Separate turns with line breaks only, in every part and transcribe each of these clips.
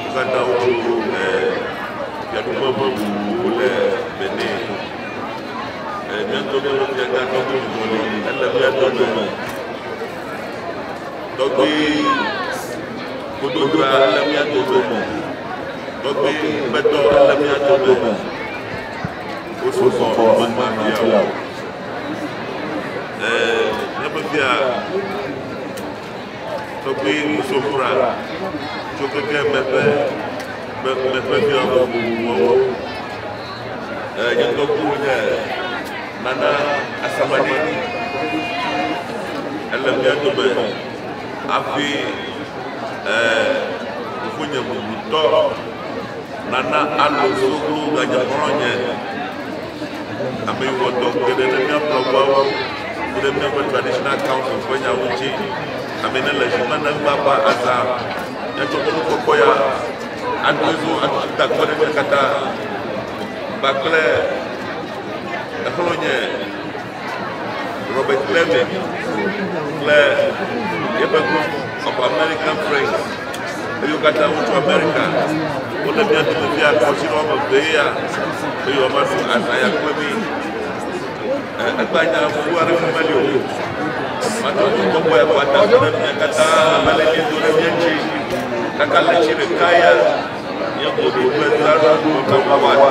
Wo katã wotso Rome, ɛɛ, fiaɖuƒe vovovowo le Benin. Ɛɛ, mía ŋutɔ mía nɔvia gã tɔgbi ŋutɔ li, ele mía dome. Tɔgbi Gododoa, ele mía dome. Tɔgbi Kpetɔ, ele mía dome. Wosu kɔ, womekpã fia o. Ɛɛ, míaƒe fia. tɔgbi nusɔkura tso keke me ƒe me me ƒe dua vovovowo. Eh, nye ŋgɔku nye Nana Asamani. Ele mía dome hafi eh, fofonye bubutɔ Nana Alo Soglo ganye xɔlɔ̃nye. Ame wɔ dɔ geɖe ɖe mía blɔguawo kple míaƒe Traditional Councils ƒe nyawo ŋuti. Ame ne le zi me ne ŋua ƒe azã míatsɔ mɔnukpɔkpɔ ya aɖoe ɖo atutu takpɔ ɖe mía katã kpakple exlɔ̃nye. Robert Clement kple yeƒe Group of American Friends, eye wo katã wotso Amerika. Wole mía dome fia kɔsi ɖe woame eve ya, eye woama ɖo azã ya kple mí. Egba nya fu aɖe ƒe meli o. Matɔ tso kɔkɔ ya kɔata ɖe mía katã ame le miedo ɖe mía ŋuti. Kaka le tsi ɖeka ya, nye boɖo kple ndraɖo ɖo ɖe wɔwɔ aɖe.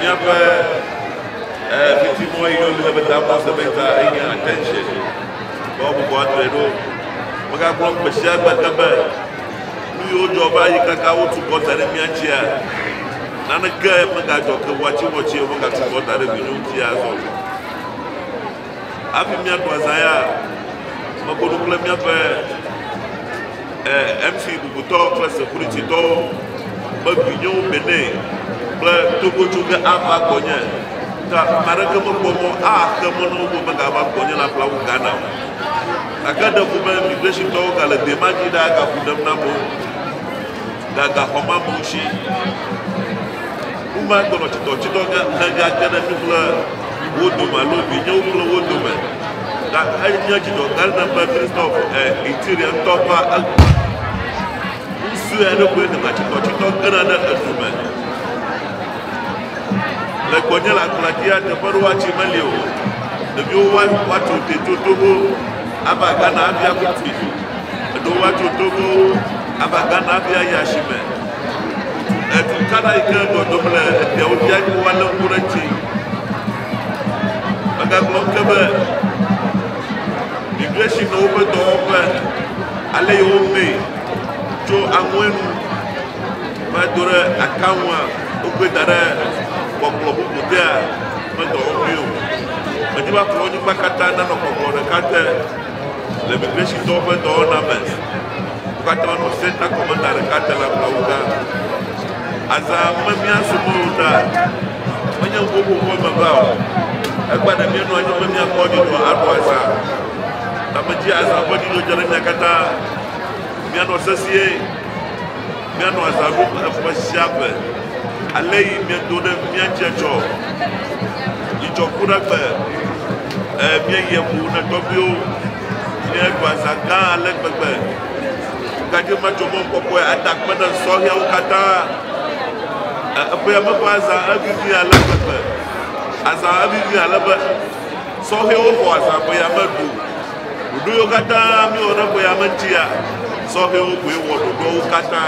míaƒe fitimɔ yi ne wole be tabɔ semɛnta enye attention be wobubu atrɔe ɖo megagblɔ gbe sia gbe ke be nu yiwo dzɔ va yi kaka wotu kɔ da ɖe mía dzia naneke megadzɔ ke wɔatsiwɔtsi womegatu kɔ da ɖe vinyo ŋuti azɔ o Hafi míaɖu azã ya, meko nu kple míaƒe eh, MC bubutɔ kple sekurititɔwo be vinyewo Bene kple Togo tso ge ava gbɔnye. Ta ame aɖeke mekpɔ mɔ axe mɔ na wo be megava gbɔnye le aƒlawu Ghana o. Gake ɖeko be migrashintɔwo gale dema dzi ɖaa gaku ɖem nam o. Ga gaxɔ ma bu ŋutsi. Wova gbenɔ tsitɔ tsitɔ ga hega ke ɖe kple wo dome alo vinyewo kple wo dome. Ga enye dzidɔ ga ɖe be Christoph e Itiria ŋutɔ va egbe. Ŋusue eɖokue gana tsitɔ tsitɔ gena ɖe edu me. Le gbɔnye la kpla dia teƒe ɖo watsi meli o. Ɖeviwo wa watu te toto ho ava gana avia kuti. Eɖewo va tso Togo ava Ghana hafi ayi asime. Edu kana yi ke dɔdɔm le efiawo fia yi ke woalé ŋku ɖe eŋuti. Megagblɔ ŋu ke be migration nɔ woƒe dɔwɔƒe ale yi wome tso aŋue nu va do ɖe akaŋua wokɔe da ɖe kpɔkplɔ bubu dea ƒe dɔwɔƒee o. Medi be akplɔ wo anyigba katã nanɔ kpɔkplɔ ɖeka te. Le Migrɛshintɔwo ƒe dɔwɔna me, wo katã wonɔ senta kɔmanda ɖeka te le ablɔawu gã. Azã me mía subɔwo ɖa menye ŋuƒoƒo ƒe meva o. Egbea ɖe míenɔ anyi be míakpɔ dzidzɔ aɖu azã. Tametsi azã ƒe dzidzɔ dze ɖe mía katã. Míanɔ sesĩe. Míanɔ aza ɖum eƒe sia ƒe. Ale yi miedo ɖe mía dzi etsɔ dzidzɔ ku ɖa be e, míeyi eŋu na tɔgbuiwo. Míeɖu aza gã ale gbegbe. Ŋukaɖi matso mɔ kɔkɔe ada akpe ɖe sɔhɛawo katã? E, eƒea me ƒe azã evivi ale gbegbe. Azã evivi ale be sɔhɛwo xɔ azã ƒea me ɖu. Ɖoɖo yiwo katã míewɔ ɖe ƒe ya me ŋutia, sɔhɛwo koe wɔ ɖoɖoawo katã.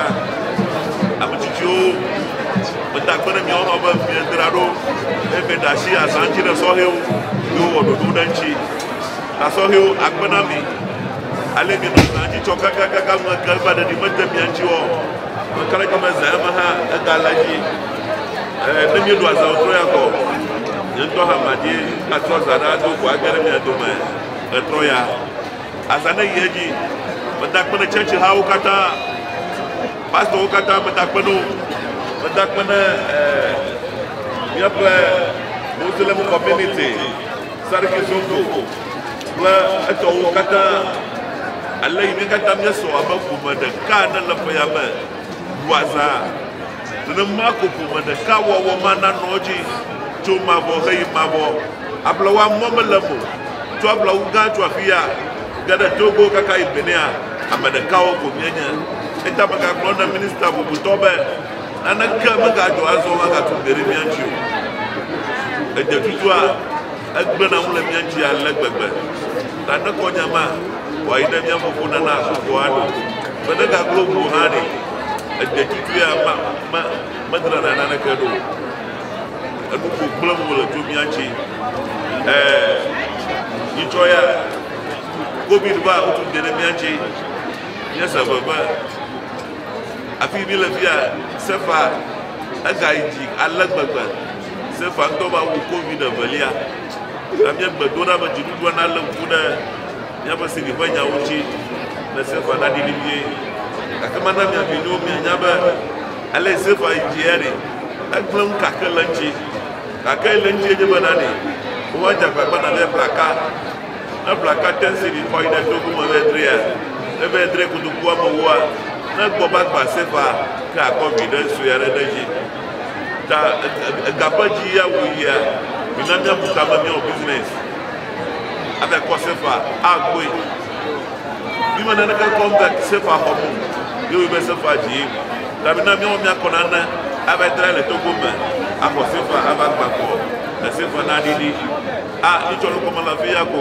Ame tsitsiwo meda akpe ɖe miawo hã be miedzra ɖo eye mieɖe asi azã ŋuti ɖe sɔhɛwo yiwo wɔ ɖoɖo ɖe ŋuti. Ta sɔhɛwo, akpe na mi ale mienɔ zã dzi tsɔ kakakaka ŋu eke va ɖeɖi mede mia ŋuti wɔ. Ame ka ɖe dzi me zã ya me hã ega le edzi. Ee, ne mieɖo azã wòtrɔ ya kɔ, nye ŋutɔ hã madie atrɔ zã ɖe ado ko age ɖe mia dome. Etɔ ya, azã ne yi edzi. Meda akpe ne church hawo katã, pastor wo katã meda akpe ne wo. Meda akpe ne eh, míaƒe Muslim community, Sariki Zongo kple etɔwo katã. Ale yi mí katã míesɔ abe ƒome ɖeka ne le ƒeya me ɖua zã. Nenema ko ƒome ɖeka wɔwɔ ma nanɔ edzi tso mavɔ heyi mavɔ. Ablawa mɔ mele eme o. Tso ablawu gã tso afi ya ge ɖe Togo kaka yi Benea, ame ɖekawo ko míenye. Eya ta megagblɔ na minista bubutɔ be, Naneke megadzɔ azɔ magatu Gbeɖe mía ŋuti o. Edze tutua? Egblẽna ŋu le mía ŋuti ale gbegbe ta ne kɔ nya ma wòayi ɖe mía fofo nana agbɔgbɔ aɖo be negaglo ŋu o hã ɖe, egbe tutuia ma me medrana naneke ɖo o. Enu ko gblẽm wòle tso mía ŋuti. Ɛɛ, nyitsɔ ya Covid va wotu de ɖe mía ŋuti. Míese veve. Afi míle fia, Sefa, egayi dzi ale gbegbe. Sefa ŋutɔ va wu Covid evelia. Ta míegbe do ɖa be dziɖuɖua nalé ŋku ɖe míaƒe CD ƒe nyawo ŋuti ne Sefa naɖi vevie. Gake mana mia vinyewo mianya be ale si Sefa yi dzia ɖi, egblẽ nu kake le eŋuti. Gake le eŋuti nye be na ɖi woadze agbagba navɛ blaka. Ne blaka te CD kɔ yi ɖe togo me vɛ drea, ne vɛ dre kotokuwo amewoa, ne gbɔ be agba Sefa ke akɔ viɖe sue aɖe ɖe edzi. Ta ega ƒe dzi ya wòyia, mina míabu ta be míawɔ business aɖe kɔ sefa agbɔe. Míme naneke kɔ be sefa xɔ mo, míewɔe be sefa dzi. Ta mina míawɔ míakɔ nane ava tra le Togo me axɔ sefa ava gbakɔ le sefa na ɖiɖi. A, mitsɔ nukɔme le afi ya ko.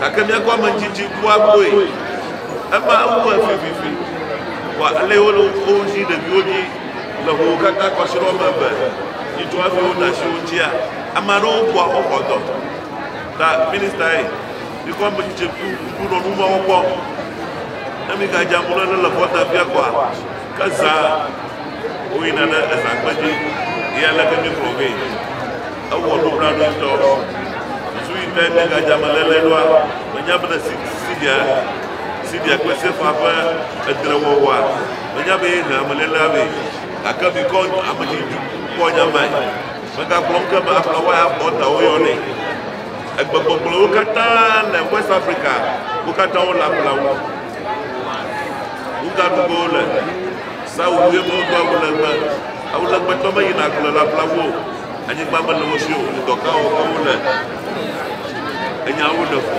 Gake mía gɔmedzidzi kua goe. Ema ewɔe vivivi kpɔ ale wole wo ŋuti ɖeviwo dzi le ƒowo katã kɔsiɖɔ me be nyitsɔ hafi wona asi wo ŋutia. Ame aɖewo bua wo xɔdɔ ta ministae mi gɔmedzidzi ku ŋku nɔ nu mawo kpɔ. Ne mi ga dza mlɔ ne le xɔ ta fia kɔa, ke zã wo yina ɖe ezã kpe dzi. Ye aleke mi kplɔ vɛ? Ewɔ nublanui ŋutɔ. Susu yi tae míegadze ameléle ɖoa? Mènya be le Siria, Siria kple Sefaa ƒe edrewɔwɔa, mènya be yehea amelélea vɛ? Gake mikɔ ame dzi dzi kpɔ nya mae. Megagblɔm ke be aflawae abɔ ta woyɔnɛ. Egbegbɔgblɔwo katã le West Africa, wo katã wole ablawu. Nugaɖuƒewo le. Sawu ye medo awulegbe. Awulegbetɔ meyina agble le ablawu o. Anyigba mele wo si o, dɔ ka wɔm ke wole. Enyawo le fu.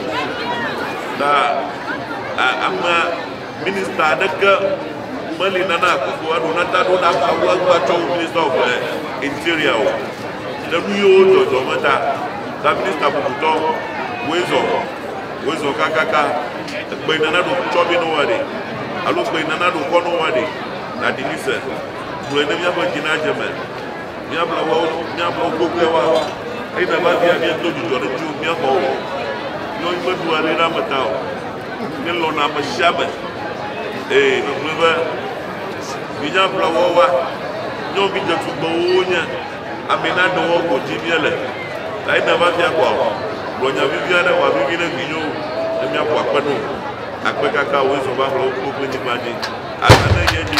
Ta ame minista aɖeke meli nana akoko aɖo nata ɖo na ameawo agba tsɔ wo minista of interior o. Le nu yiwo dzɔdzɔ me ta, ta minista bubutɔ woe zɔ, woe zɔ kakaka. Ekpe nana ɖo tsɔ mi no wa ɖe, alo kpe nana ɖo kɔ no wa ɖe. Ɖaɖi mi se, gblɔe ne míaƒe dzi nadze me. Míabla woawo nu, míabla wo gbogboe woawo, eye nava via míedo dzudzɔ ɖe ŋutiwò míaxɔ wo. Nyɔnyi meɖua ɖe ɖe ame ta o, míelɔ̃na ame sia ame. Ee, megblɔe be míabla woawo wa. Nyɔnuvi dzetugbewo wonye, amee na ɖe woawo ko dzi míele. Eye nava via kpɔ o. Gblɔ nya vivi aɖe wòavivi ɖe vinyewo ne míaƒo akpe no. Akpe kaka wòe zɔ va ƒle wo kpokploe nyigba dzi. Asa ne nye nyi.